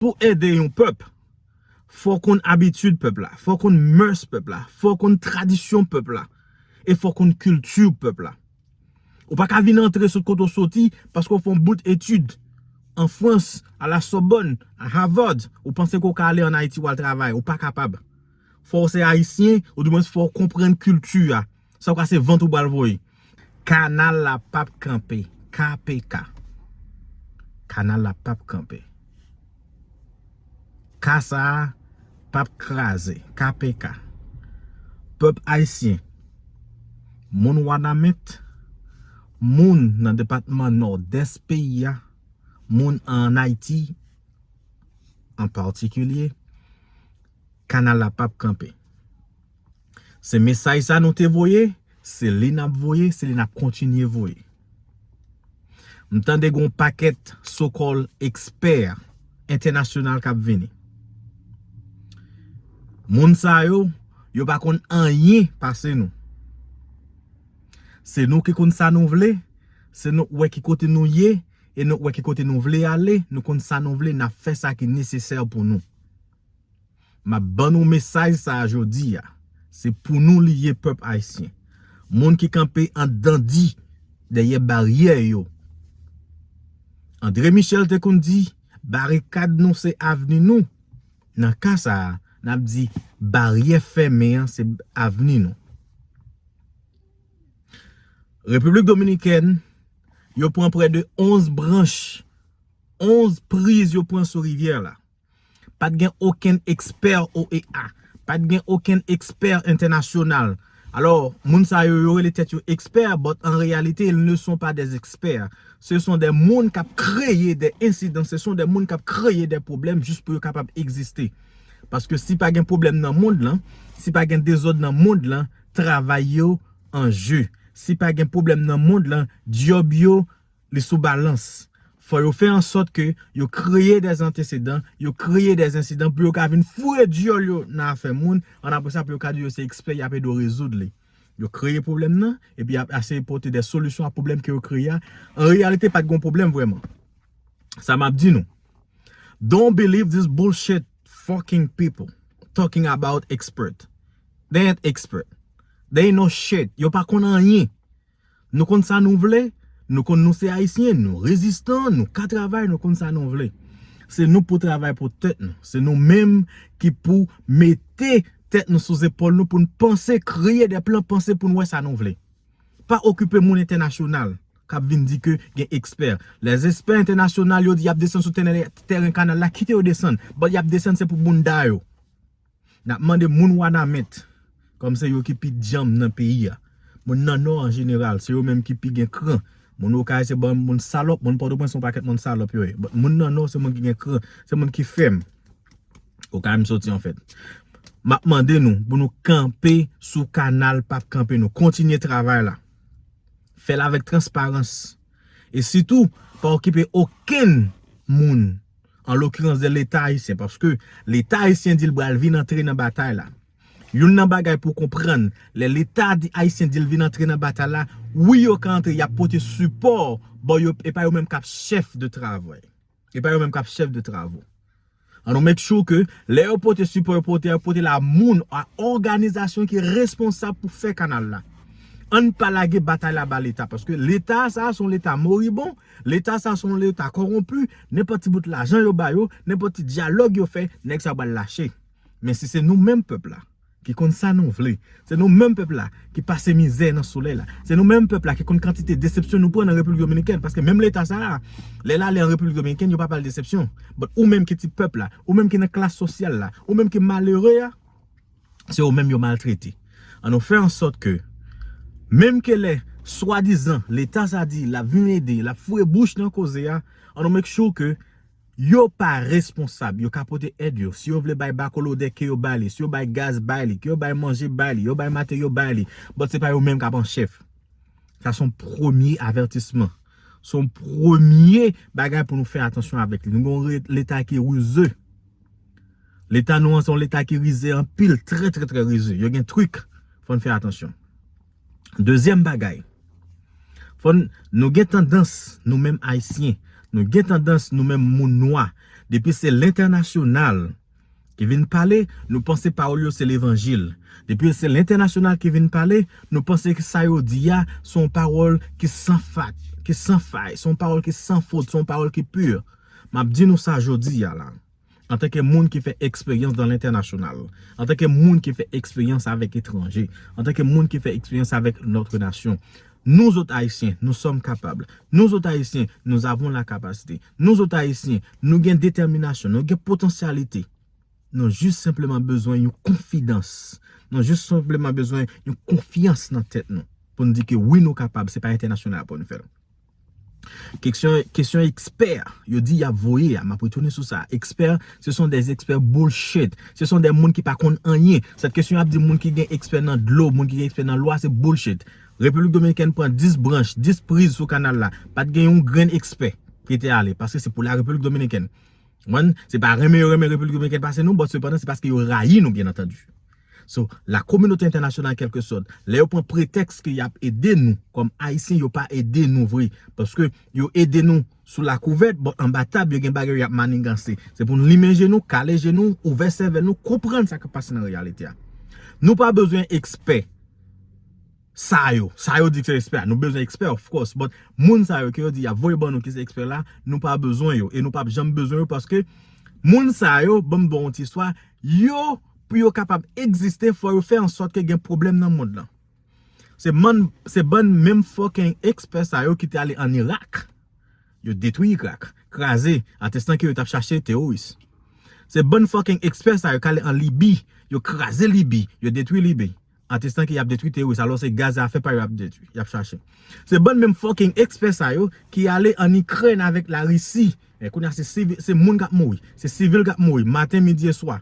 Pou ede yon pèp, fò w konn abitid pèp la, fò w konn mès pèp la, fò w konn tradisyon pèp la, e fò w konn kilti pèp la. Ou pa ka vin antre sot kote w soti paske w fè yon bout etid an Frans, a la Sòbòn, a Havard, ou panse ke w ka ale an Ayiti w al travay. Ou pa kapab. Fò w se Ayisyen, ou di mwens fò w konprann kilti a. Sa ou ka se vant ou pral voye. Kanal la pap kanpe kpk. Kanal la pap kanpe. Ka sa pap kraze kpk. Pèp ayisyen, moun wanament, moun nan depatman nòdès peyi a, moun an Ayiti an patikilye, kanal la pap kanpe. Se mesaj sa nou te voye, se li nap voye, se li nap kontinye voye. M tande gon pakèt so kòl ekspè entènasyonal kap vini. Moun sa yo, yo pa konn anyen pase nou. Se nou ki konn sa nou vle, se nou k wè ki kote nou ye, e nou k wè ki kote nou vle ale, nou konn sa nou vle, nap fè sa ki nesesè pou nou. Map ban nou mesaj sa a jodi a, se pou nou li ye pèp ayisyen. Moun ki kanpe an dan di dèyè baryè yo. Andre Michel te konn di barikad nou se avni nou, nan ka sa a nap di baryè fèmen an se avni nou. Repiblik Dominikèn yo pran prè de 11 branch, 11 priz yo pran sou rivyè la. Pat gen okenn ekspè OEA. Pat gen okenn ekspè entènasyonal. Alò, moun sa yo, yo rele tèt yo ekspè, but an reyalite, ils ne sont pas des experts. Se son de moun kap kreye de ensidan, se son de moun kap kreye de pwoblèm jis pou yo kapab egziste. Paske si pa gen pwoblèm nan mond lan, si pa gen dezòd nan mond lan, travay yo an je. Si pa gen pwoblèm nan mond lan, dyòb yo. Li sou balans. Fò yo fè an sòt ke yo kreye dè antesedan, yo kreye dè ensidan pou yo ka vin foure dyòl yo nan afè moun, an apre sa pou yo ka di yo se ekspè y ap ede w rezoud li. Yo kreye pwoblèm nan, epi y ap eseye pote dè solisyon a pwoblèm ke yo kreye a, an reyalite pa t gen yon pwoblèm vrèman. Sa m ap di nou, Don't believe this bullshit fucking people talking about expert. They ain't expert. They ain't no shit. Yo pa konn anyen. Nou konn sa nou vle, nou konn nou se ayisyen, nou rezistan, nou ka travay, nou konn sa nou vle. Se nou pou travay pou tèt nou, se nou menm ki pou mete tèt nou sou zepòl nou pou n panse, kreye de plan, panse pou n wè sa nou vle. Pa okipe moun entènasyonal kap vin di ke gen ekspè. Lè espè entènasyonal yo di yap desann sou tèren kanal la, kite yo desann. Bon yap desann se pou bounda yo. Nap mande moun wanament kòm se yo ki pi dyanm nan peyi a moun nan nò an jeneral se yo menm ki pi gen kran moun okay se banm moun salòp moun pòtoprens se yon pakèt moun salòp yo ye but moun nan nò se moun ki gen kran se moun ki fèm okay m soti anfèt map mande nou pou nou kanpe sou kanal pap kanpe nou kontinye travay la fèl avèk transparans e sitou pa okipe okenn moun an lokirans de leta ayisyen paske leta ayisyen di l pral vin antre nan batay la youn nan bagay pou w konprann lè leta ayisyen di l vin antre nan batay la wi yo ka antre y ap pote sipò ba yo e pa yo menm k ap chèf de travay e pa yo menm k ap chèf de travo an nou make sure ke lè yo pote sipò yo pote yo pote l a moun a òganizasyon ki responsab pou fè kanal la an n pa lage batay la ba leta paske leta sa a s on leta moribon Leta sa son leta koronpu, nenpot ti bout lajan yo ba yo, nenpot ti dyalog yo fè, neg sa pral lache. Men si se nou menm pep la ki konn sa nou vle, se nou menm pep la ki pase mizè nan soley la, se nou menm pep la ki konn kantite desepsyon nou pran nan Repiblik Dominikèn, paske menm leta sa a, lel ale an Repiblik Dominikèn yo pa pale desepsyon, but ou menm ki ti pep la, ou menm ki nan klas sosyal la, ou menm ki malere a, se yo menm yo maltrete an nou fè ansòt ke menm ke lè swadizan leta sa di lap vin ede lap foure bouch nan koze a an nou make sure ke yo pa responsab yo ka pote èd yo si yo vle bay bakolodè ke yo bay li si yo bay gaz bay li ke yo bay manje bay li yo bay materyo bay li but se pa yo menm kap an chèf sa son premye avètisman son premye bagay pou nou fè atansyon avèk li nou gen yon leta ki rize. Leta nou an se yon leta ki rize anpil, trè trè trè rize. Yo gen trik, fòn fè atansyon. Dezyèm bagay, fòn nou gen tandans nou menm Ayisyen, nou gen tandans nou menm moun nwa, depi se lentènasyonal ki vin pale, nou panse pawòl yo se levanjil. Depi se lentènasyonal ki vin pale, nou panse ke sa yo di a se yon pawòl ki san fat, ki san fay, se yon pawòl ki san fot, se yon pawòl ki pur. M ap di nou sa jodi a la, antanke moun ki fè eksperyans dan lentènasyonal, antanke moun ki fè eksperyans avèk etranje, antanke moun ki fè eksperyans avèk lòtre nasyon, nouzot Ayisyen, nou sòm kapab. Nouzot Ayisyen, nou avon la kapasite. Nouzot Ayisyen, nou gen detèminasyon, nou gen potansyalite. Nou jis senpleman bezwen yon konfidans. Nou jis senpleman bezwen yon konfyans nan tèt nou pou nou di ke wi nou kapab, se pa entènasyonal pou nou fè l. Kesyon ekspè yo di yap voye a map retounen sou sa ekspè se son de ekspè boulshit se son de moun ki pa konn anyen sèt kesyon yap di moun ki gen ekspè nan dlo moun ki gen ekspè nan lwa se boulshit repiblik dominikèn pran 10 branch 10 priz sou kanal la pat gen yon grenn ekspè ki te ale paske se pou la repiblik dominikèn se pa renmen yo renmen repiblik dominikèn pase nou bòt sepandan se paske yo rayi nou byen antandi. So, la kominote entènasyonal kèlke sòt, lè yo pran pretèks ke yap ede nou kòm Ayisyen yo pa ede nou vre. Paske yo ede nou sou lakouvèt, bon anba tab yo gen bagay yo yap maniganse. Se pou nou limen je nou, kale je nou, ouvè sèvèl nou, konprann sa kap pase nan reyalite a. Nou pa bezwen ekspè. Sa yo, sa yo di ki se ekspè a, nou bezwen ekspè of course, but moun sa yo ke yo di yap voye ban nou ki se ekspè la, nou pa bezwen yo e nou pap janm bezwen yo paske moun sa yo, banm baw yon ti istwa, yo pou yo kapab egziste fò yo fè an sòt ke gen pwoblèm nan mond lan. Se man, se bann menm fucking ekspè sa yo ki te ale an Irak, yo detwi Irak, kraze, atestan ke yo tap chache teworis. Se bann fucking ekspè sa yo ki ale an Libi, yo kraze Libi, yo detwi Libi. Ant estanke yap detwi teworis alò se gaz afe pa yo yap detwi, yap chache. Se bann menm fucking ekspè sa yo ki ale an Ikrèn avèk la Risi. Men kounye a se sivil, se moun kap mouri, se sivil kap mouri maten, midi e swa.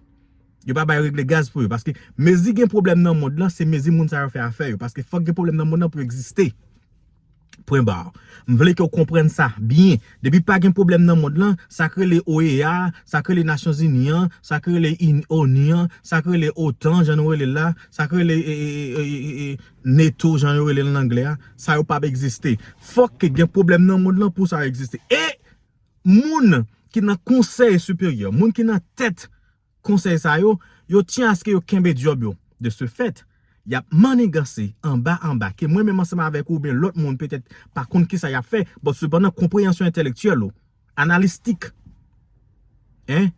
Yo pa bay regle gaz pou yo paske mezi gen pwoblèm nan mond lan se mezi moun sa yo fè afè yo paske fòk gen pwoblèm nan mond lan pou yo egziste. Pwen bar. M vle ke w konprann sa byen. Depi pa gen pwoblèm nan mond lan, sa k rele OEA, sa k rele Nasyonzini an, sa k rele onu an, sa k rele otan jan nou rele l la, sa k rele neto jan yo rele l an anglè a, sa yo pap egziste. Fòk ke gen pwoblèm nan mond lan pou sa egziste. E moun ki nan konsèy siperyè, moun ki nan tèt. konsèy sa yo, yo tyen aske yo kenbe dyòb yo. De se fèt, y ap manniganse anba anba ke mwen menm ansanm avèk ou oubyen lòt moun petèt pa konn kisa y ap fè, bòt sepandan konpreyansyon entèlektyèl ou, analistik, en,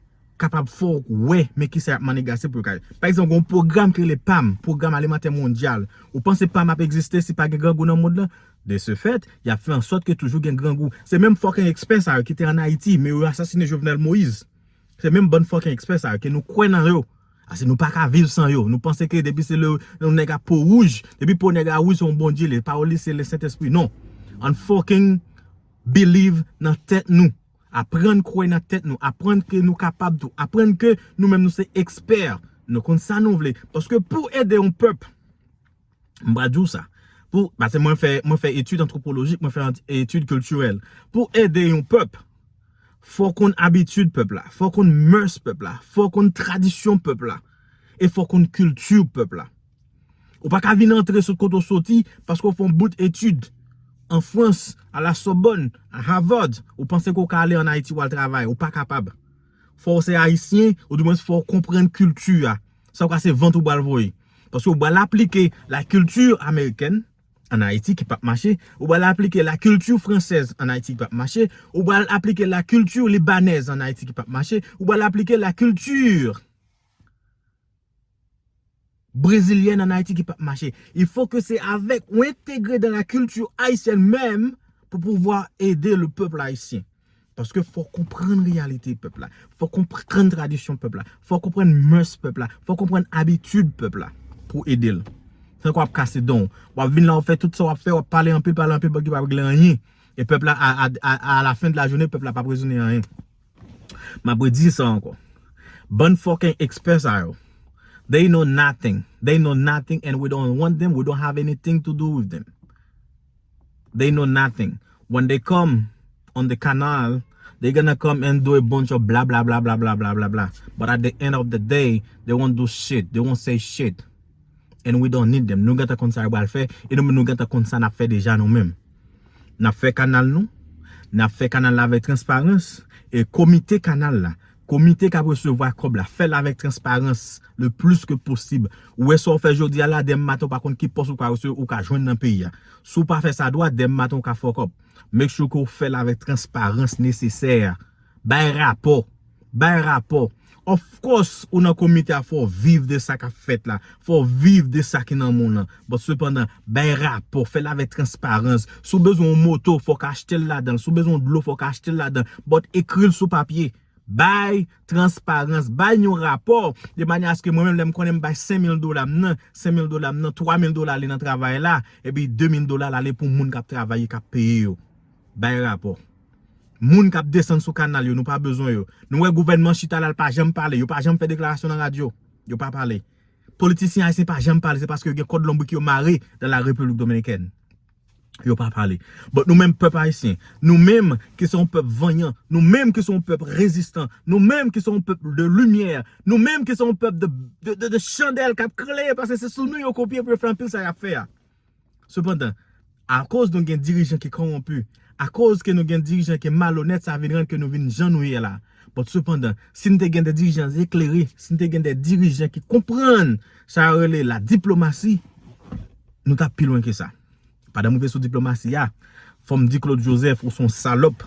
kapab fè w wè men kisa y ap manniganse pou yo ka. Pa egzanp, gen yon pwogram ki rele pam, Pwogram Alimantè Mondyal. Ou panse pam ap egziste si pa gen grangou nan mond lan? De se fèt, y ap fè an sòt ke toujou gen grangou. Se menm fòken ekspè sa yo ki te an Ayiti, men yo asasine Jovenel Moïse. Se menm bann fucking expert sa yo ke nou kwè nan yo. Ase nou pa ka viv san yo. Nou panse ke depi se le yon nèg a po wouj, depi po nèg a wouj se yon Bondye li ye. Pawòl li se le Sentespri. Non. Ann fucking believe nan tèt nou. Aprann kwè nan tèt nou. Aprann ke nou kapab tou. Aprann ke nou menm nou se expert. Nou konn sa nou vle. Paske pou ede yon pèp. m pral di w sa, pou, pase mwen fè, mwen fè etid antwopolojik, mwen fè etid kiltirèl, pou ede yon pèp, fò w konn abitid pèp la, fò w konn mès pèp la, fò w konn tradisyon pèp la, e fò w konn kilti pèp la. Ou pa ka vin antre sot kote w soti, paske w fè yon bout etid an Frans, a la Sòbòn, a Havard, ou panse ke w ka ale an Ayiti wal travay, ou pa kapab. Fò w se Ayisyen, ou di mwen fò w konprann kilti a, sa w ka se vant ou pral voye. Paske ou pral aplike la culture américaine en Haïti ki pap mache, ou pral aplike la culture française en Haïti ki pap mache, ou pral aplike la culture libanaise en Haïti ki pap mache, ou pral aplike la culture brésilienne en Haïti ki pap mache. Il faut que c'est avec ou intégrer dans la culture haïtienne même pou pouvwa ede le peuple haïtien. Paske fò w konprann reyalite pèp la, fò w konprann tradisyon pèp la, fò w konprann mès pèp la, fò w konprann abitid pèp la pou w ede l. Se tankou ap kase dan w. W ap vin la w ap fè tout sa w ap fè, w ap pale anpil, pale anpil pou ki pa regle anyen. E pèp la a la fen de la jounen, pèp la pa ap rezone anyen. M ap redi sa ankò. Bann fòkeng ekspè sa yo, they know nothing, they know nothing and we don't want them, we don't have anything to do with them. they know nothing when they come on the canal they gonna come and do a bunch of blablablablabla but at the end of the day they won't do shit they won't say shit and we don't need them nou gentan konn sa yo pral fè e nou menm nou gentan konn sa nap fè deja nou menm nap fè kanal nou nap fè kanal la avèk transparans e komite kanal la Komite kap resevwa kòb la fèl avèk transparans le plis ke posib. Ou wè sa ou fè jodi a la demen maten ou pa konn ki pòs ou ka resevwa ou ka jwenn nan peyi a. Si ou pa fè sa dwat demen maten ou ka fuck up. Make sure ke ou fèl avèk transparans nesesè a. Bay rapò. Bay rapò. Of course ou nan komite a fò ou viv de sa kap fèt la. Fò ou viv de sa ki nan moun lan. Bon sepandan, bay rapò, fè l avèk transparans. Si w bezwen yon moto, fò w ka achte l ladan l. Si w bezwen yon dlo, fò w ka achte l ladan l. But, ekri l sou papye. Bay transparans. Bay yon rapò de manyè aske mwen menm lè m konnen m bay 5000 dola m nan, 5000 dola m nan, 3000 dola ale nan travay la, epi 2000 dola l ale pou moun k ap travay e k ap peye yo. Bay rapò. Moun k ap desann sou kanal yo, nou pa bezwen yo. Nou wè gouvènman chita la l pa janm pale. Yo pa janm fè deklarasyon nan radyo. Yo pa pale. Politisyen ayisyen pa janm pale se paske yo gen kòd lonbrik yo mare nan la République Dominicaine. Yo pa pale. But nou menm pèp ayisyen, nou menm ki se yon pèp vanyan, nou menm ki se yon pèp rezistan, nou menm ki se yon pèp de limyè, nou menm ki se yon pèp de chandèl k ap klere paske se sou nou yo kopye pou yo fè anpil sa y ap fè a. Sepandan, akoz nou gen dirijan ki kowonpi, akoz ke nou gen dirijan ki malonèt, sa vin rann ke nou vin jan nou ye la. But sepandan, si nou te gen de dirijan eklere, si nou te gen de dirijan ki konprann sa yo rele la diplomasi, nou tap pi lwen ke sa. Pandan m rive sou diplomasi a, fò m di Claude Joseph ou son salòp.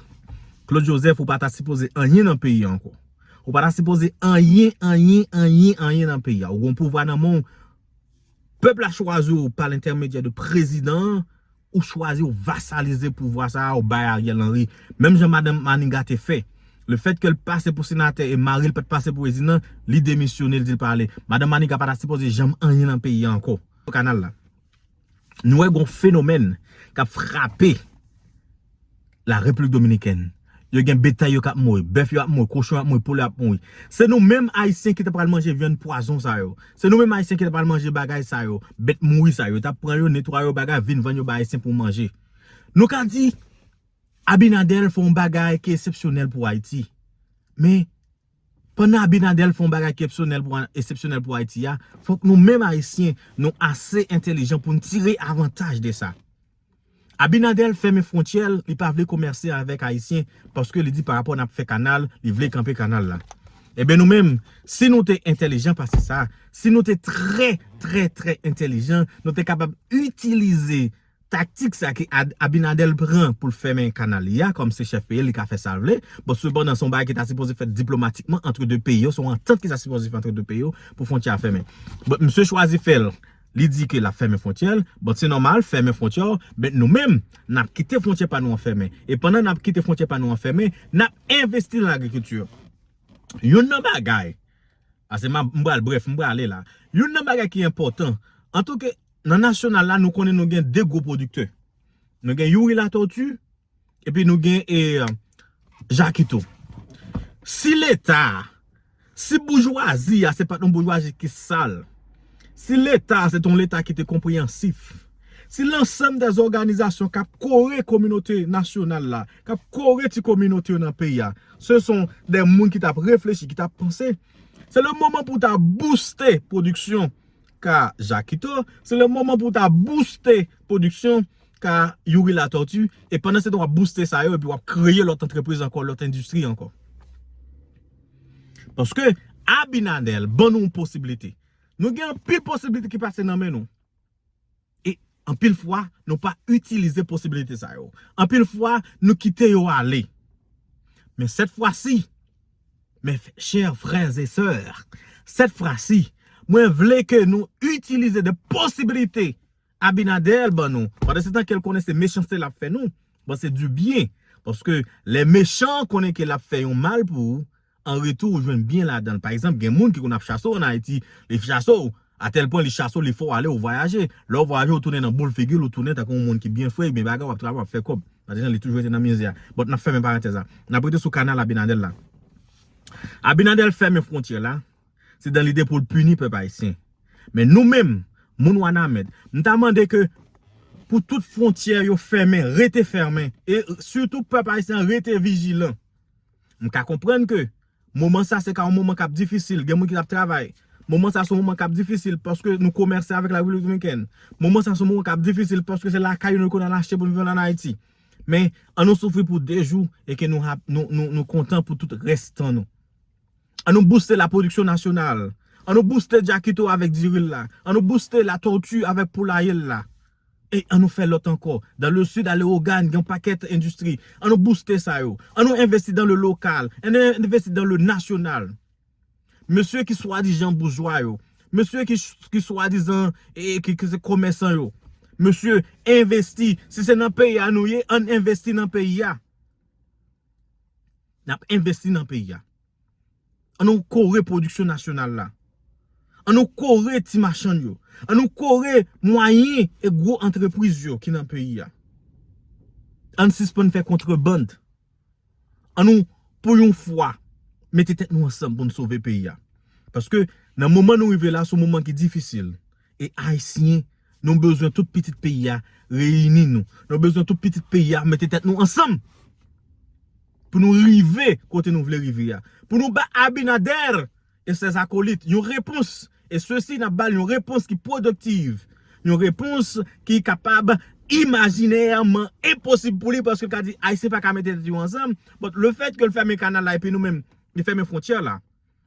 Claude Joseph ou pa ta sipoze anyen nan peyi a ankò. Ou pa ta sipoze anyen, anyen, anyen, anyen nan peyi a. Ou gen yon pouvwa nan men w, Pèp la chwazi w pa lentèmedyè de prezidan an, ou chwazi ou vasalize pouvwa sa a ou bay Ariel Henry. Menm jan madanm Maniga te fè. Le fèt ke l pase pou senatè e mari l pa t pase pou prezidan, li demisyone l di l pa ale. Madanm Maniga pa ta sipoze janm anyen nan peyi a ankò. Kanal la. Nou wè gon fenomèn k ap frape. la replik dominikèn yo gen betay yo kap mouri bèf yo ap mouri kochon ap mouri poul ap mouri se nou menm ayisyen ki ta pral manje vyann pwazon sa yo se nou menm ayisyen ki ta pral manje bagay sa yo bèt mouri sa yo yo tap pran yo netwaye yo bagay vin vann yo bay ayisyen pou manje nou ka di abinadèl fè yon bagay ki esepsyonèl pou ayiti men pandan abinadèl fè yon bagay ki epsyonèl pou esepsyonèl pou ayiti a fòk nou menm ayisyen nou ase entelijan poun tire avantaj de sa Abinader fèmen frontyè l li pa vle komèse avèk ayisyen paske li di pa rapò nap fè kanal li vle kanpe kanal la ebyen nou menm si nou te entèlijan pase sa si nou te trè trè trè entèlijan nou te kapab itilize taktik sa ke Abinader pran pou l fèmen kanal li a kòm se chèf peyi l li ka fè sa l vle bon sepandan son bagay ki ta sipoze fèt diplomatikman antre 2 peyi yo son antant ki ta sipoze fèt antre 2 peyi yo pou frontyè a fèmen bon misye chwazi fè l Li di ke lap fèmen fwontyè l, but se nòmal, fèmen fwontyè w, but nou menm, nap kite fwontyè pa nou an fèmen. E pandan nap kite fwontyè pa nou an fèmen, nap envesti lan agrikilti. Youn nan bagay, pase m ap, m pral brèf, m prale la. Youn nan bagay ki enpòtan, antanke nan nasyonal la nou konnen nou gen 2 gwo pwodiktè. Nou gen Youri Latortue, Epi nou gen e Jakito. Si leta, si boujwazi a se pat yon boujwazi ki sal, si leta a se t yon leta ki te konpreyansif, si lansam de zoganizasyon k ap kore kominote nasyonal la, k ap kore ti kominote yo nan peyi a, se son de moun ki t ap reflechi, ki t ap panse, se le moman pou ta bouste pwodiksyon. ka Jakito, se le moman pou w ta bouste pwodiksyon ka Youri Latòti e pandan se tan w ap bouste sa yo epi w ap kreye lòt antrepriz ankò, lòt endistri ankò. Paske Abinadèl ban nou yon posibilite. Nou gen anpil posibilite ki pase nan men nou. E anpil fwa nou pa itilize posibilite sa yo. Anpil fwa nou kite yo ale. Men sèt fwa si, men chè frè e sè, sèt fwa si, mwen vle ke nou itilize de posibilite Abinader ban nou. Pande se tan ke l konnen se mechanste l ap fè nou. Bon se di byen. Paske lè mechan konnen ke l ap fè yon mal pou ou. an retou ou jwenn byen ladan l pa egzanp gen moun ki konn ap chase w an ayiti li ap chase w atèl pwen li chase w li fè w ale ou vwayaje lè w vwayaje ou tounen nan boul figi l ou tounen tankou yon moun ki byen fre byen bagay w ap travay w ap fè kòb paske jan li toujou rete nan mize a bon n ap fèmen parantèz la n ap rete sou kanal abinadèl la abinadèl fèmen fwontyè la se dan lide pou l pini pèp ayisyen men nou menm moun wanament m ta mande ke pou tout fwontyè yo fèmen rete fèmen e sitou pèp ayisyen an rete vijilan. M ka konprann ke moman sa se ka yon moman kap difisil, gen moun ki ap travay. Moman sa se yon moman kap difisil paske nou komèse avèk la Repiblik Dominikèn. Moman sa se yon moman kap difisil paske se lakay nou konn al achte pou nou vann an Ayiti. Men, an nou soufri pou 2 jou e ke nou kontan pou tout rès tan nou. An nou bouste la pwodiksyon nasyonal. An nou bouste Jackito avèk diri l la. An nou bouste La Tortue avèk poulaye l la. E an nou fè lòt ankò. Dans le sud a Lewogàn gen yon pakèt endistri. An nou bouste sa yo. An nou envesti dans le local. An nou envesti dans le national. Mesye ki swadijan boujwa yo. Mesye ki swadizan ki se komèsan yo. Mesye envesti. Si se nan peyi a nou ye, an n envesti nan peyi a. Nap envesti nan peyi a. An nou kore pwodiksyon nasyonal la. An nou kore ti machann yo. An nou kore mwayen e gwo antrepriz yo ki nan peyi a. An n sispann fè kontreband. An nou pou yon fwa mete tèt nou ansanm pou n sove peyi a. Paske nan moman nou rive la se yon moman ki difisil. E ayisyen nou bezwen tout pitit peyi a reyini nou. Nou bezwen tout pitit peyi a mete tèt nou ansanm. Pou nou rive kote nou vle rive a. Pou nou ba Abinader e ses acolytes yon repons. E se si nap bal yon repons ki productiv. Yon repons ki kapab imaginèrement impossible pou li. Paske ka di ayisyen pa ka mete tèt yo ansanm. But le fait ke l fèmen kanal la epi nou menm li fèmen frontyè la.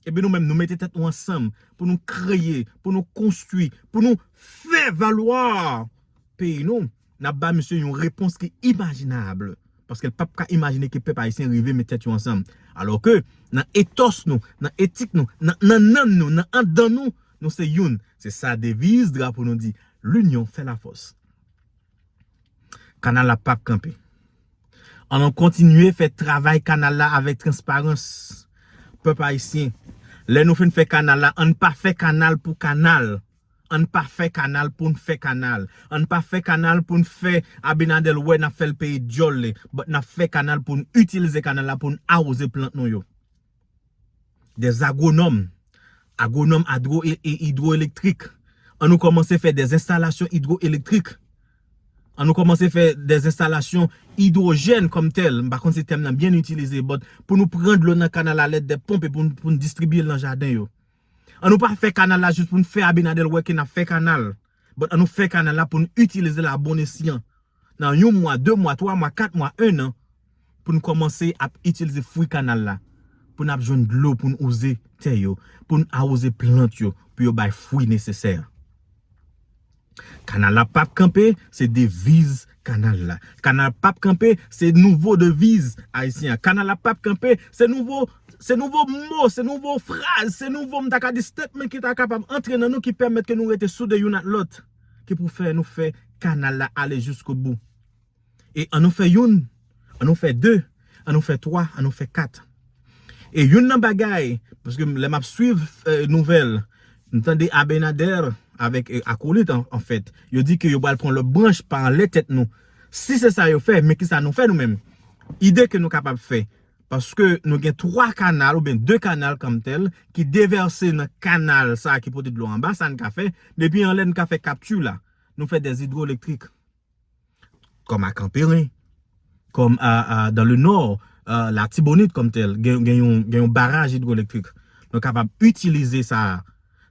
Epi nou menm nou mete tèt nou ansanm pou nou kreye, pou nou konstwi, pou nou fè valwa peyi nou, n ap ba misye yon repons ki imajinab. Paske l pap ka imajine ke pèp ayisyen rive met tèt yo ansanm. Alò ke nan etòs nou, nan etik nou, nan nannan nou, nan andan nou, nou se youn. Se sa deviz drapo nou di, L'union fait la force. Kanal la pap kanpe. An nou kontinye fè travay kanal la avèk transparans. Pèp ayisyen, lè nou fin fè kanal la, an n pa fè kanal pou kanal. An n pa fè kanal pou n fè kanal. An n pa fè kanal pou n fè Abinadèl wè n ap fè l peye dyòl li. But n ap fè kanal pou n itilize kanal la pou n awoze plant nou yo. des agronòm, agronòm adwo e idwoelektrik, an nou kòmanse fè des enstalasyon idwoelektrik, an nou kòmanse fè des enstalasyon idwojèn kòm tèl, m pa konn si tèm nan byen itilize but pou nou pran dlo nan kanal la alèd de ponp e pou nou distribye l nan jaden yo. An nou pa fè kanal la jis pou nou fè Abinadèl wè ke n ap fè kanal. But an nou fè kanal la pou n itilize l a bon esyan. Nan yon mwa, 2 mwa, 3 mwa, 4 mwa, 1 an, pou n kòmanse ap itilize fwi kanal la. Pou n ap jwenn dlo pou n wouze tè yo, pou n awoze plant yo, pou yo bay fwi nesesè. Kanal la pap kanpe, se deviz Kanal la. Kanal pap kanpe se nouvo deviz ayisyen an. Kanal la pap kanpe se nouvo se nouvo mo, se nouvo fraz, se nouvo m ta ka di statement ki ta kapab antre nan nou ki pèmèt ke nou rete soude youn ak lòt ki pou fè nou fè kanal la ale jiskobou. E an nou fè youn An nou fè 2, an nou fè 3, an nou fè 4. E youn nan bagay, paske lè m ap swiv nouvèl, m tande Abenader avèk akolit an fèt, yo di ke yo pral pran lòt branch pa anlè tèt nou. Si se sa yo fè, men ki sa nou fè nou menm? Ide ke nou kapab fè, paske nou gen 3 kanal oubyen 2 kanal kòm tèl ki devèse nan kanal sa ki pote dlo anba, sa n ka fè? Depi anlè n ka fè kapti la. Nou fè dè idwolektrik. Kòm a Kanperen, kòm a dans le nord, Latibonit kòm tèl gen yon baraj idwolektrik. Nou kapab itilize sa a.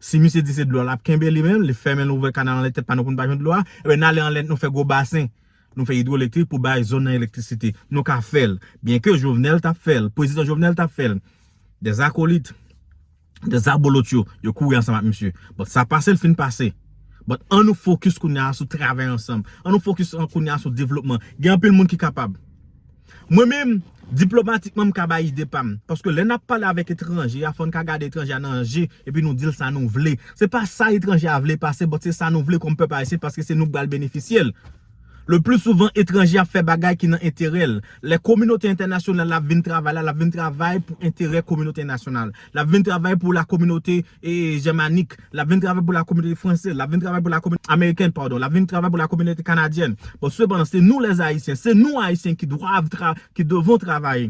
Si misye di se dlo a l ap kenbe li menm, li fèmen l ouvè kanal anlè tèt pa nou pou nou pa jwenn dlo a, enben n ale anlè nou fè gwo basen. Nou fè idwolektrik pou bay zòn nan elektrisite. Nou ka fè l. Byenke Jovenel t ap fè l. Pwezidan Jovenel t ap fè l. Dèzakolit. 2 zabolot yo, yo kouri ansanm ak misye. Bon, sa pase l fin pase. Bon, an nou fokis kounye a sou travay ansanm. An nou fokis kounye a sou devlopman. Gen anpil moun ki kapab. Mwen menm, diplomatikman m ka bay ide pa m. Paske lè n ap pale avèk etranje a, fò n ka gade etranje a nan je epi nou di l sa nou vle. Se pa sa etranje a vle pase, bòt se sa nou vle kòm pèp ayisyen paske se nou k pral benefisye l. Le pli souvan etranje ap fè bagay ki nan enterè l. Lè kominote entènasyonal la ap vin travay la, l ap vin travay pou enterè kominote nasyonal. L ap vin travay pou la kominote jèmanik, l ap vin travay pou la kominote franse, l ap vin travay pou la kominote amerikèn, padon, l ap vin travay pou la kominote kanadyèn. Bon, sepandan, se nou lèzayisyen, se nou ayisyen ki dwav tra, ki devon travay.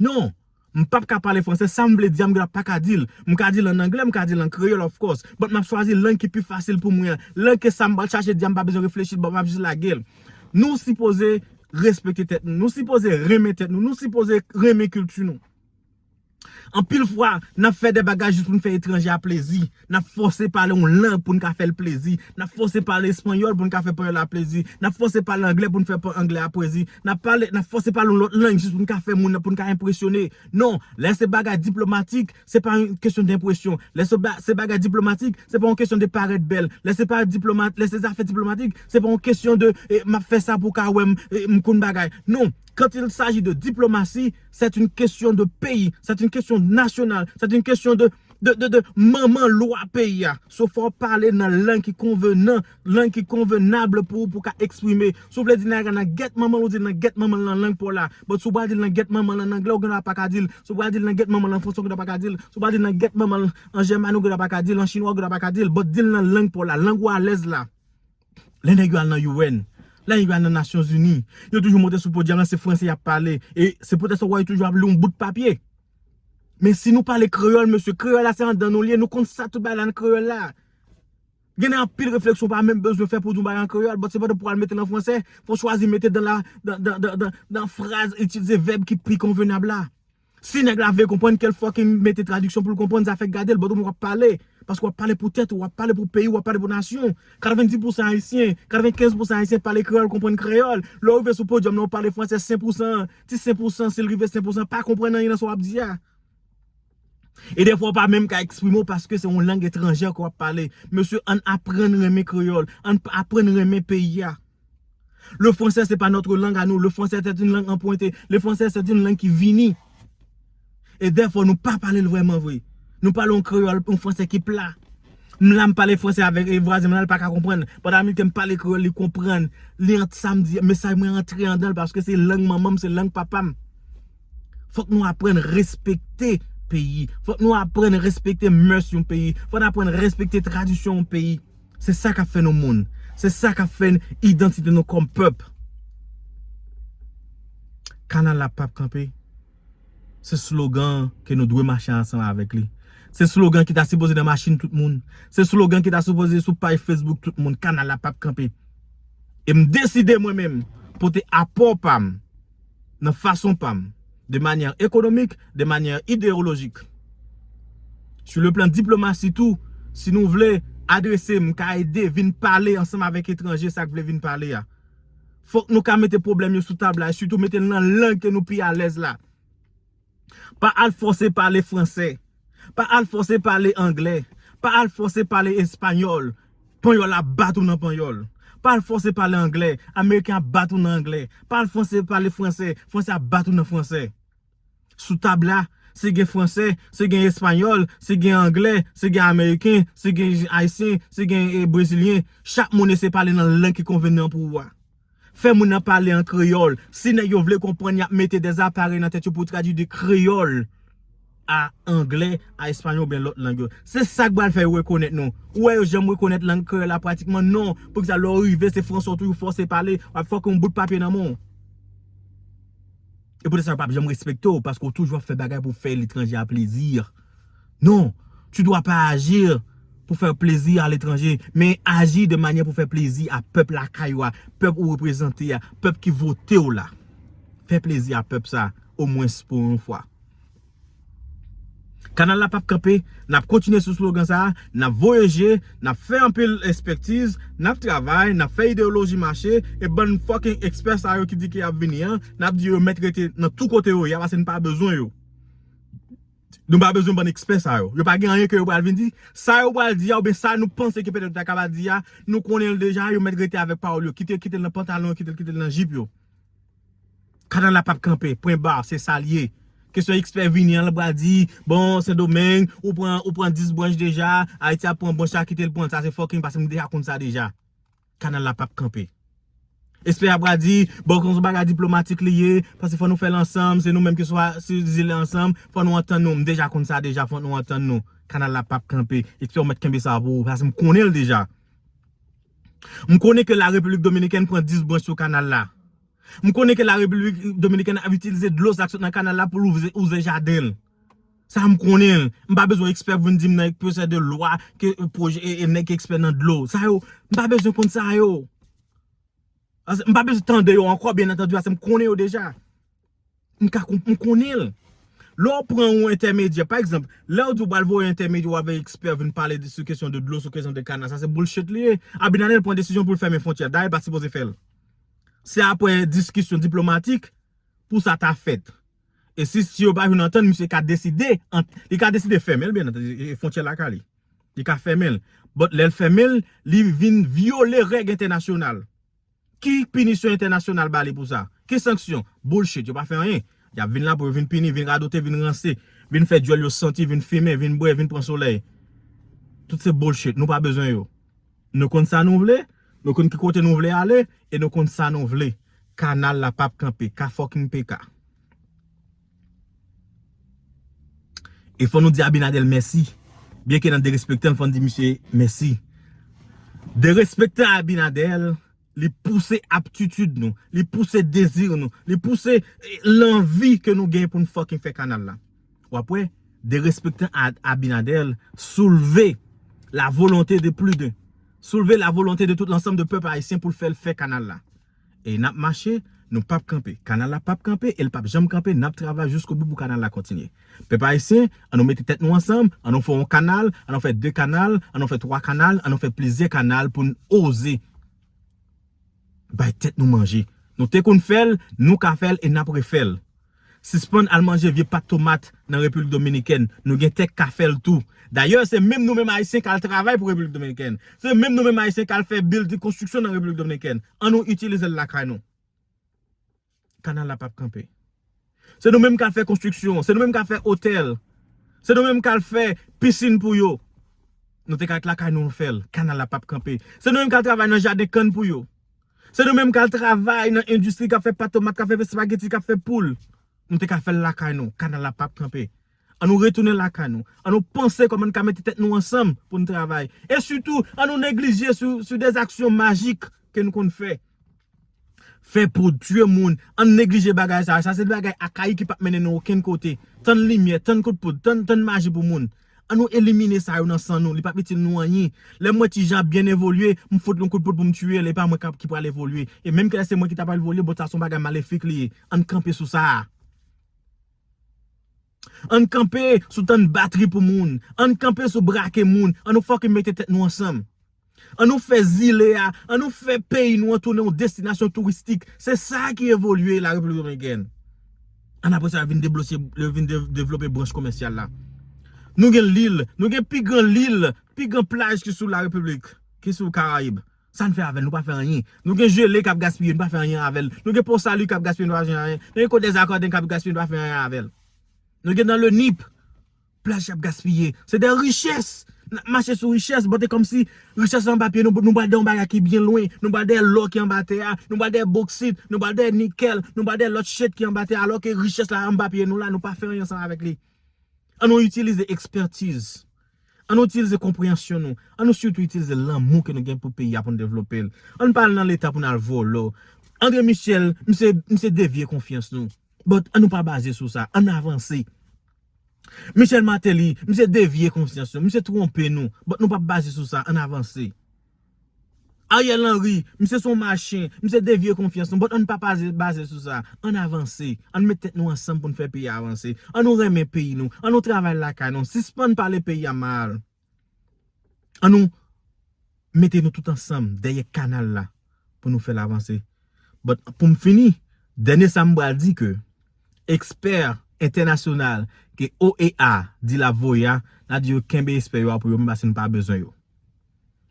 Non! M pap ka pale fransè, sa m vle di a m gendwa pa ka di l. M ka di l an anglè, m ka di l an kreyòl of course, but m ap chwazi lang ki pi fasil pou mwen an. Lang ke sa m pral chache di a m pa bezwen reflechi but m ap jis lage l. Nou sipoze respekte tèt nou. Nou sipoze renmen tèt nou. Nou sipoze renmen kilti nou. Anpil fwa, n ap fè de bagay jis pou n fè etranje a plezi. N ap fòse pale yon lang pou n ka fè l plezi. N ap fòse pale espanyòl pou n ka fè panyòl la plezi. N ap fòse pale angle pou n fè angle a pwezi. N ap pale, n ap fòse pale yon lòt lang jis pou n ka fè moun, pou n ka enpresyone. Non, lè se bagay diplomatik, se pa yon kesyon denpresyon. Lè se ba, se bagay diplomatik, se pa yon kesyon de parèt bèl. Lè se pa diploma, lè se zafè diplomatik, se pa yon kesyon de e, m ap fè sa pou w ka wè m, e, m konn bagay. Non, quand il s'agit de diplomatie, c'est une question de pays, c'est une question nationale, c'est une question de. de, de, de manman lwa peyi a. So fò w pale nan lang ki konvenan, lang ki konvenabl pou ou pou w ka eksprime. Si w vle di Niagara nan gèt manman l, ou di l nan gèt manman l nan lang pa w la. But si w pral di l nan gèt manman l an angle, ou gen dwa pa ka di l. Si w pral di l nan gèt manman l an franse, ou gen dwa pa ka di l. Si w pral di l nan gèt manman l an jèmani, ou gen dwa pa ka di l. An chinwa, ou gen dwa pa ka di l. But di l nan lang pa w la, lang ou alèz la. Lè nèg yo al nan UN, lè nèg yo al nan Nasyon Zini, yo toujou monte sou podyòm lan se franse y ap pale. E se poutèt sa w wè yo toujou ap li yon bout papye. Men si nou pale kreyòl mesye, kreyòl la se anndan nou li ye, nou konn sa tout bagay la nan kreyòl la. Gen anpil refleksyon ou pa menm bezwen fè pou w di yon bagay an kreyòl, bòt se pandan pou w al mete l an franse, fò w chwazi mete dan la, dan, dan, dan, dan, dan fraz, itilize vèb ki pi konvenab la. Si nèg la vle konprann kel fucking mete tradiksyon poul konprann zafèk gadel but ou menm wap pale paske wap pale pou tèt ou wap pale pou peyiw wap pale pou nasyon w 90 pousan ayisyen 95 pousan ayisyen pale kreyòl konprann kreyòl lèw rive sou podyòm lan ou pale fransè 5 pousan an ti 5 pousan sil rive 5 pousan pa konprann anyen nan sa wap di a e dèfwa ou pa menm ka eksprime w paske se yon lang etranjè ke wap pale mesye ann aprann renmen kreyòl ann aprann renmen peyi a. Le français se pa notre langue a nou, le français c'est une langue empruntée, le français c'est une langue ki vini. E dèfò nou pa pale l vrèman vre. Nou pale yon kreyòl, yon fransè ki pla. M la m pale fransè avèk e vwazen mwen la l pa ka konprann. Pandan Amilk m pale kreyòl li konprann. Li ant sa m di, mesaj mwen antre andan l paske se lang manman m, se lang papa m. Fòk nou aprann respekte peyi. Fòk nou aprann respekte mès yon peyi. Fòk nou aprann respekte tradisyon yon peyi. Se sa kap fè nou moun. Se sa kap fè idantite nou kòm pèp. Kanal la pap kanpe. Se slogan ke nou dwe mache ansanm avèk li. Se slogan ki ta sipoze nan machin tout moun. Se slogan ki ta sipoze sou paj Facebook tout moun. Kanal la pap kanpe. E m deside mwen menm pote apò pa m. nan fason pa m, de manyè ekonomik, de manyè ideyolojik. Sou le plan diplomasi tou, si nou vle adrese m ka ede vin pale ansanm avèk etranje sa k vle vin pale a. Fòk nou ka mete pwoblèm yo sou tab la e sitou mete l nan lang ke nou pi alèz la. Pa al fòse pale fransè. Pa al fòse pale anglè. Pa al fòse pale espanyòl. Panyòl ap bat ou nan panyòl. Pa al fòse pale anglè. Ameriken ap bat ou nan anglè. Pa al fòse pale fransè. Fransè ap bat ou nan fransè. Sou tab la, si gen fransè, si gen espanyòl, si gen anglè, si gen ameriken, si gen ayisyen, si gen brezilyen, chak moun eseye pale nan lang ki konvenan pou ou a. Fè moun nan pale an kreyòl. Si nèg yo vle konprann, y ap mete de aparèy nan tèt yo pou tradui de kreyòl a angle, a espayòl oubyen lòt lang yo. Se sa k pral fè yo rekonèt nou. Ou wè yo janm rekonèt lang kreyòl la pratikman? Non! Poukisa lè w rive se franse w toujou fòse pale, w ap fè w gen yon bout papye nan men w? E poutèt sa yo p ap janm respekte w paske w toujou ap fè bagay pou w fè letranje a plezi. Non, tu dois pas agir pou fè plezi a letranje, men aji de manyè pou fè plezi a pèp lakay ou a, pèp ou reprezante a, pèp ki vote w la. Fè plezi a pèp sa, omwens pou yon fwa. Kanal la pap kanpe, n ap kontinye sou slogan sa, n ap voye je, n ap fè anpil espektiz, n ap travay, n ap fè ideyoloji mache, e bann fucking ekspè sa yo ki di ke y ap vini an, n ap di yo yo mèt rete nan tou kote yo ye a, paske n pa bezwen yo. Nou pa bezwen bann ekspè sa yo. Yo pa gen anyen ke yo pral vin di. Sa yo pral di a oubyen sa nou panse ke petèt yo ta kapab di a, nou konnen l deja, yo mèt rete avèk pawòl yo. Kite yo kite l nan pantalon yo, kite yo kite l nan jip yo. Kanal la pap kanpe. Pwen bar. Se sa l ye. Kesyon ekspè vini an, l pral di, bon, Sendomeng, ou pran, ou pran 10 branch deja, Ayiti ap pran branch sa, kite l pran l. Sa se fucking paske m deja konn sa deja. kanal la pap kanpe. Espè a pral di, bon kon son bagay diplomatik li ye, paske fò nou fè l ansanm, se nou menm ki swa sou zile ansanm, fò nou antann nou, m deja konn sa deja, fò nou antann nou. Kanal la pap kanpe. Espè ou mèt kenbe sa pou ou, paske m konnen l deja. M konnen ke la Repiblik Dominikèn pran 10 branch sou kanal la. M konnen ke la Repiblik Dominikèn ap itilize dlo sa k sot nan kanal la pou l ouvze jaden l. Sa m konnen, m pa bezwen ekspè pou vin di m nan pwosè de lwa ke nèg ki ekspè nan dlo. Sa yo, m pa bezwen konn sa yo. M pa bezwen tande yo ankò byen antandu paske m konnen yo deja. M ka konprann, m konnen l. Lè w pran yon entèmedyè, pa egzanp, lè w di w pral voye yon entèmedyè ou avèk ekspè vin pale sou kesyon de dlo, sou kesyon de kanal, sa se bullshit li ye. Abinadel pran desizyon pou l fèmen fwontyè. Dayè l pa sipoze fè l. Se apre diskisyon diplomatik pou sa ta fèt. E si si yo pa jwenn antann misye ka deside ant li ka deside fèmen byen antandi e fwontyè lakay li. Li ka fèmen l. But lè l fèmen l, li vin vyole règ entènasyonal. Ki pinisyon entènasyonal ba li pou sa? Ki sanksyon? Bullshit, yo pa fè anyen. Y ap vin la pou yo vin pini, vin radote, vin ranse, vin fè dyòl yo santi, vin fimen, vin bwè, vin pran solèy. Tout se bullshit, nou pa bezwen yo. Nou konn sa nou vle, nou konn ki kote nou vle ale, e nou konn sa nou vle. Kanal la pap kanpe. Ka fucking PK. E fò nou di Abinadel mèsi. Byenke nan derespekte l, fò n di misye mèsi. Derespekte Abinadel, Li pouse aptitid nou. Li pouse dezi nou. Li pouse lanvi ke nou gen pou nou fucking fè kanal la. W ap wè, derespektan Abinader soulve la volonte de plus de, soulve la volonte de tout l'ensemble de pèp Ayisyen pou l fè l fè kanal la. E n ap mache, nou p ap kanpe. Kanal la p ap kanpe e l p ap janm kanpe. N ap travay jiskobou pou kanal la kontinye. Pèp Ayisyen, an nou mete tèt nou ansanm, an nou fè yon kanal, an nou fè 2 kanal, an nou fè 3 kanal, an nou fè plizyè kanal pou n oze bay tèt nou manje. Nou te konn fè l, nou ka fè l e n ap refè l. Sispann al manje vye pat tomat nan Repiblik Dominikèn. Nou gen tè k ka fè l tou. Dayè, se menm nou menm Ayisyen k al travay pou Repiblik Dominikèn. Se menm nou menm Ayisyen k al fè bilding, konstriksyon nan Repiblik Dominikèn. An nou itilize l lakay nou. kanal la pap kanpe. Se nou menm k al fè konstriksyon, se nou menm k al fè otèl, se nou menm k al fè pisin pou yo. Nou te ka ret lakay nou an fè l, kanal la pap kanpe. Se nou menm k al travay nan jaden kann pou yo. Se nou menm k al travay nan endistri k ap fè pat tomat, k ap fè espageti, k ap fè poul. Nou te ka fè l lakay nou, kanal la pap kanpe. An nou retounen lakay nou. An nou panse kòman n ka mete tèt nou ansanm pou n travay. E sitou, an nou neglije sou de zaksyon majik ke n konn fè. Fè poud, tye moun, an n neglije bagay sa yo. Sa se de bagay akayik ki pap mennen nou okenn kote. Tann limyè, tann kout poud, tann maji pou moun. An nou elimine sa yo nan san nou. Li pap itil nou anyen. Lè m wè ti Jean ap byen evolye, m fout l yon kout poud pou m tye l. E pa mwen ki pral evolye. E menm kilè se mwen ki ta pral evolye, bon sa se yon bagay malefik li ye. An n kanpe sou sa a. Ann kanpe sou tann batri pou moun, ann kanpe sou brake moun, an nou fucking mete tèt nou ansanm. An nou fè zile a, an nou fè peyi nou an tounen yon destinasyon touristik. Se sa ki evolye la Repiblik Dominikèn. An apre sa yo vin deblose, yo vin devlope branch komèsyal la. Nou gen lil, nou gen pi gran lil, pi gran plaj ki sou la Repiblik, ki sou Karayib. Sa n fè avè l? Nou pa fè anyen. Nou gen jele k ap gaspiye, nou pa fè anyen avè l. Nou gen Pon Sali k ap gaspiye, nou pa fè anyen. Nou gen Kot Dèzakòden k ap gaspiye, nou pa fè anyen avè l. Nou gen nan Lenip, plaj k ap gaspiye. Se de richès! N ap mache sou richès, bon te kòmsi richès la anba pye nou, nou pral dè yon bagay ki byen lwen. Nou pral dèyè lò ki anba tè a, nou pral dèyè boksit, nou pral dèyè nikèl, nou pral dèyè lòt chet ki anba tè a, alò ke richès la anba pye nou la, nou pa fè anyen ansanm avèk li. An nou itilize ekspètiz. An nou itilize konpreyansyon nou, an nou sitou itilize lanmou ke nou gen pou peyi a pou nou devlope l. An nou pa al nan leta pou nou al volo. Andre Michel, misye devye konfyans nou. But an nou pa baze sou sa. An nou avanse. Michel Martelly, misye devye konfyans nou. Misye twonpe nou. But nou pap baze sou sa. An nou avanse. Ariel Henry, misye son machin, misye devye konfyans nou, but ann pa baze sou sa, ann avanse, ann met tèt nou ansanm pou n fè peyi a avanse, ann nou renmen peyi nou, ann nou travay lakay nou, sispann pale peyi a mal, ann nou mete nou tout ansanm dèyè kanal la pou nou fè l avanse. But pou m fini, dènye sa m pral di ke ekspè entènasyonal ke OEA di l ap voye a, n a di yo kenbe espè yo a pou yo menm paske nou pa bezwen yo.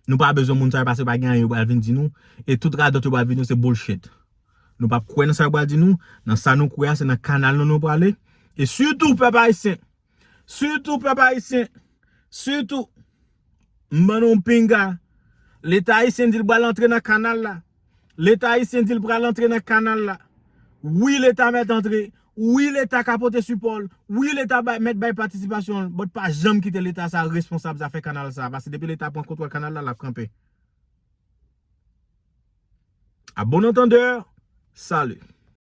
Nou pa bezwen moun sa yo paske pa gen anyen yo pral vin di nou e tout radòt yo pral vin di nou se bullshit. Nou pap kwè nan sa yo pral di nou, nan sa nou kwè a se nan kanal nou nou prale e sitou pèp ayisyen, sitou pèp ayisyen, sitou, m ban nou pinga, leta ayisyen di l pral antre nan kanal la. Leta ayisyen di l pral antre nan kanal la. Wi leta mèt antre. Wi leta ka pote sipò l. Wi leta mèt bay patisipasyon l. But pa janm kite leta sa responsab zafè kanal sa. Pase depi leta pran kontwòl kanal la, l ap kanpe. A bon antandè, salut!